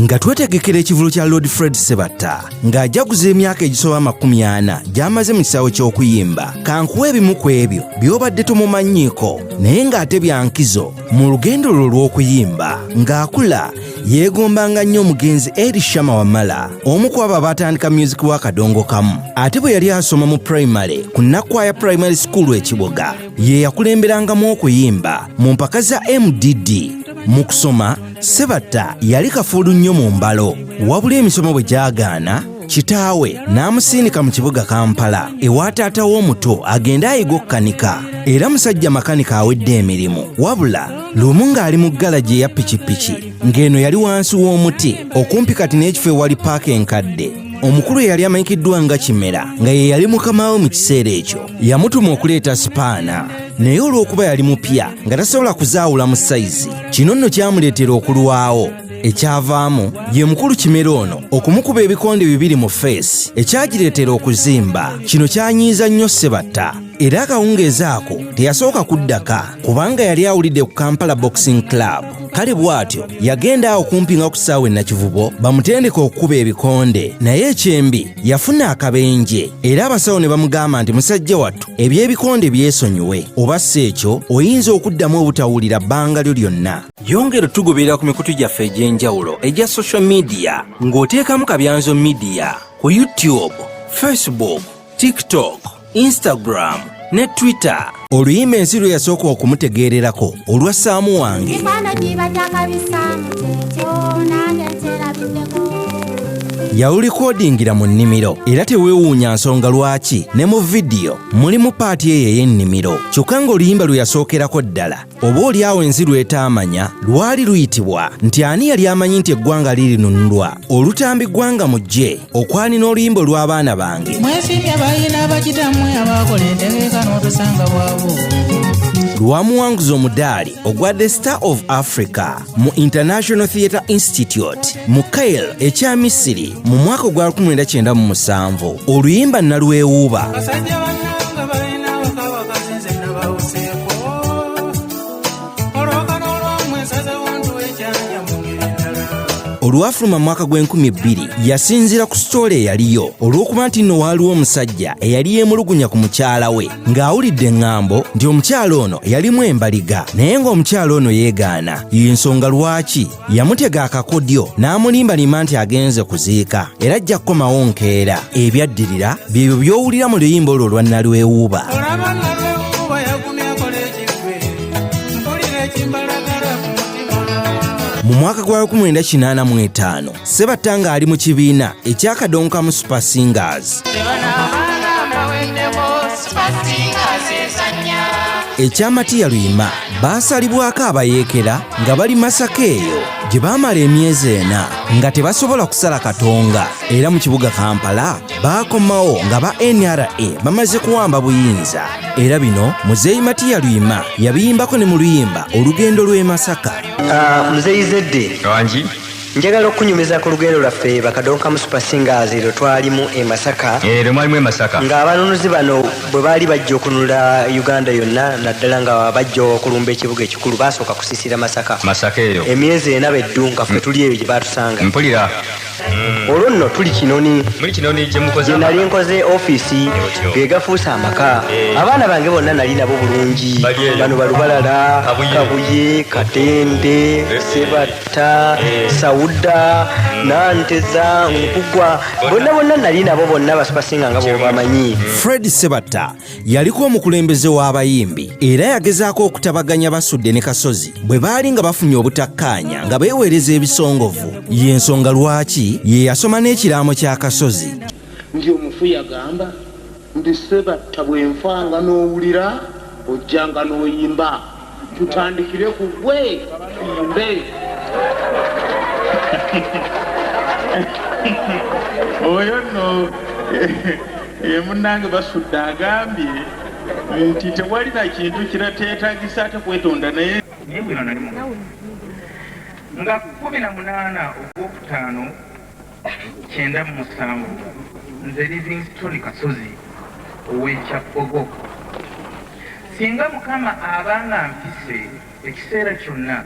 nga twetegekera ekivulu kya lord fred sebatta ng'ajaguza emyaka egisoba amakumi ana gy'amaze mu kisaawe ky'okuyimba kankuwa ebimu ku ebyo by'obadde tomumanyiiko naye ng'ate byankizo mu lugendo lwo lw'okuyimba ng'akula yeegombanga nnyo omugenzi eri shama wamala omu ku abo abaatandika myuziki wa kadongo kamu ate bwe yali asoma mu primale ku nakkwaya primary school ekiboga ye yakulemberangamu okuyimba mu mpaka za mdd mu kusoma sebatta yali kafuulu nnyo mu mbalo wabula emisomo bwe gyagaana kitaawe n'amusindika mu kibuga kampala ewa taata w'omuto agende ayiga okukanika era musajja makanika awedde emirimu wabula lumu ng'ali mu galagi eya pikipiki ng'eno yali wansi w'omuti okumpi kati n'ekifo ewali paaka enkadde omukulu eyali amanyikiddwa nga kimera nga ye yali mukama we mu kiseera ekyo yamutuma okuleeta sipaana naye olw'okuba yali mupya nga tasobola kuzaawula mu sayizi kino nno kyamuleetera okulwawo ekyavaamu ye mukulu kimera ono okumukuba ebikonde bibiri mu feesi ekyagireetera okuzimba kino kyanyiiza nnyo sebatta era akawungeezi ako teyasooka kuddaka kubanga yali awulidde ku kampala boxing club kale bw'atyo yagenda awo kumpi nga ku kisaawe nakivubo bamutendeka okukuba ebikonde naye ekyembi yafuna akabenje era abasawo ne bamugamba nti musajja wattu eby'ebikonde byesonyiwe oba si ekyo oyinza okuddamu obutawulira bbanga lyo lyonna yongera otugoberera ku mikutu gyaffe egy'enjawulo egya social media ng'oteekamu kabyanzo media ku youtube facebook tiktok Instagram ne Twitter. Oluyimba ensi lwe yasooka okumutegeererako olwa Saamu wange. Yawulikodingira mu nnimiro era teweewuunya nsonga lwaki ne mu vidiyo mulimu paati eyo ey'ennimiro kyokka ng'oluyimba lwe yasookerako ddala oba oli awo ensi lwetaamanya lwali luyitibwa nti ani yali amanyi nti eggwanga lirinunulwa olutambi ggwanga mujje okwani n'oluyimba olw'abaana bange mwesiimye bayina bakitamwe abakola entegeka n'obusanga bwabwo lwamuwanguza omudaali ogwa the star of africa mu international theatre institute mu kail ekya misiri mu mwaka ogwa 1997 oluyimba nalwewuuba olwafuluma mwaka gw'enkumi ebbiri yasinziira ku sitoola eyaliyo olw'okuba nti nno waaliwo omusajja eyali yeemulugunya ku mukyala we ng'awulidde eŋŋambo nti omukyala ono yalimu embaliga naye ng'omukyala ono yeegaana y'ensonga lwaki yamutega akakodyo n'amulimbalima nti agenze kuziika era ajja kukomawo nkeera ebyaddirira byebyo by'owulira mu luyimba olwo olwa nalwewuuba mu mwaka gwa 1985 Sebatta ng'ali mu kibiina ekyakadonkamu Super Singers. ekya matiya luyima baasalibwako abayeekera nga bali masaka eyo gye baamala emyezi ena nga tebasobola kusala katonga era mu kibuga kampala baakomawo nga ba nra bamaze kuwamba buyinza era bino muzeeyi matiya luyima yabiyimbako ne mu luyimba olugendo lw'e masaka ah, muzeeyi zedde Njagala okukunyumiza ku lugendo lwaffe Bakadonkamu Super Singers lwe twalimu e Masaka. Eh, lwe mwalimu e Masaka. Nga abanunuzi bano bwe baali bajja okununula Uganda yonna naddala nga bajja okulumba ekibuga ekikulu baasooka kusisira Masaka. Masaka eyo. Emyezi ena be ddu nga ffe tuli eyo gye baatusanga. Mpulira. Mm. olwo nno tuli kinoni gye nali nkoze ofiisi ge gafuuse amaka eh. abaana bange bonna nali nabo bulungi bano balubalala kabuye katende eh. sebatu ta sauda nanteza nkugwa bonna bonna nali nabo bonna basipasinga nga bwebamanyi fred sebatta yaliko omukulembeze w'abayimbi era yagezaako okutabaganya basudde ne kasozi bwe baali nga bafunye obutakkaanya nga beeweereza ebisongovu y'ensonga lwaki ye yasoma n'ekiraamo kya kasozi ndi omufu yagamba Ndi Ssebatta bwe nfa nga n'owulira ojja nga n'oyimba tutandikire ku ggwe tuyimbe. Oyo nno ye munnange Basudde agambye nti tewali na kintu kirateetagisa ate kwetonda naye nga kkumi na munaana ogwokutaano kyenda mu musanvu nze livingstone kasozi ow'ekyabbogo singa mukama aba nga mpise ekiseera kyonna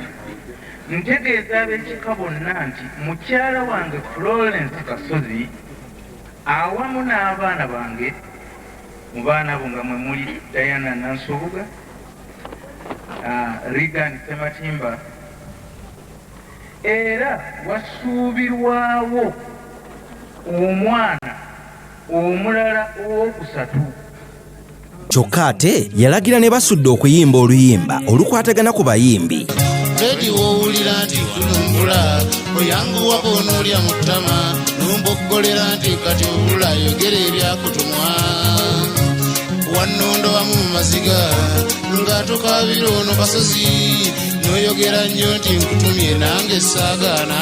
ntegeeza ab'ekika bonna nti mukyala wange florence kasozi awamu n'abaana bange mu baana bo nga mwe muli diana nansubuga uh, ah, regan sematimba Era wasuubirwawo omwana omulala owookusatu. Kyokka ate yalagira ne Basudde okuyimba oluyimba olukwatagana ku bayimbi. Teddy w'owulira nti kunumbula oyanguwa bw'onoolya mu ttama n'omboggolera nti kati obula yogera ebyakutumwa wannondo wamu mu maziga nga tukabira ono kasozi noyogera nnyo nti nkutumye nange saagaana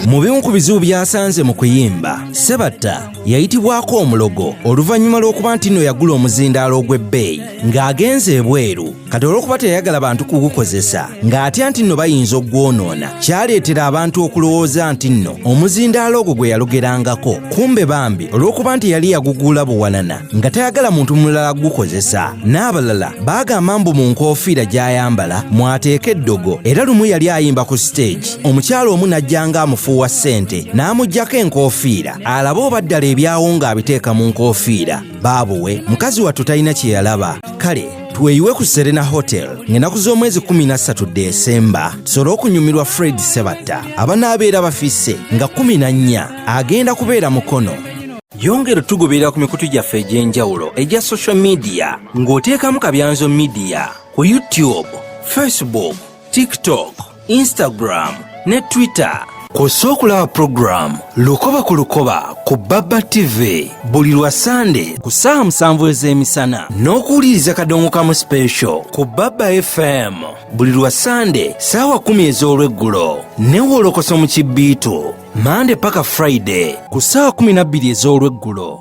mu bimu ku bizibu byasanze mu kuyimba sebatta yayitibwako omulogo oluvannyuma lw'okuba nti nno yagula omuzindaalo ogw'ebbeeyi ng'agenze ebweru kati olw'okuba teyayagala bantu kugukozesa ng'atya nti nno bayinza okugwonoona kyaleetera abantu okulowooza nti nno omuzindaalo ogwo gwe yalugerangako kumbe bambi olw'okuba nti yali yaguguula buwanana nga tayagala muntu mulala kugukozesa n'abalala baagamba mbu mu nkoofiira gy'ayambala mwateeka eddogo era lumu yali ayimba ku siteegi omukyala omu n'ajjanga amufuuwa ssente n'amugyako enkoofiira alabe oba ddala ebyawo ng'abiteeka mu nkoofiira baabuwe mukazi wattu talina kye yalaba kale tweyiwe ku serena hotel ng'enaku z'omwezi 13 desemba tusobole okunyumirwa fred sebatta abanaabeera bafisse nga 14 agenda kubeera mukono yongera otugoberera ku mikutu gyaffe egy'enjawulo egya social media ng'oteekamu kabyanzo media ku youtube facebook tiktok instagram ne twitter kw'ossa okulaba pulogulaamu lukoba ku lukoba ku baba tv buli lwa sande ku ssaawa musanvu ez'emisana n'okuwuliriza kadongo kamu special ku baba fm buli lwa sande saawa kumi ez'olweggulo newolokoso mu kibbiitu mande paka friday ku saawa kumi nabbiri ez'olweggulo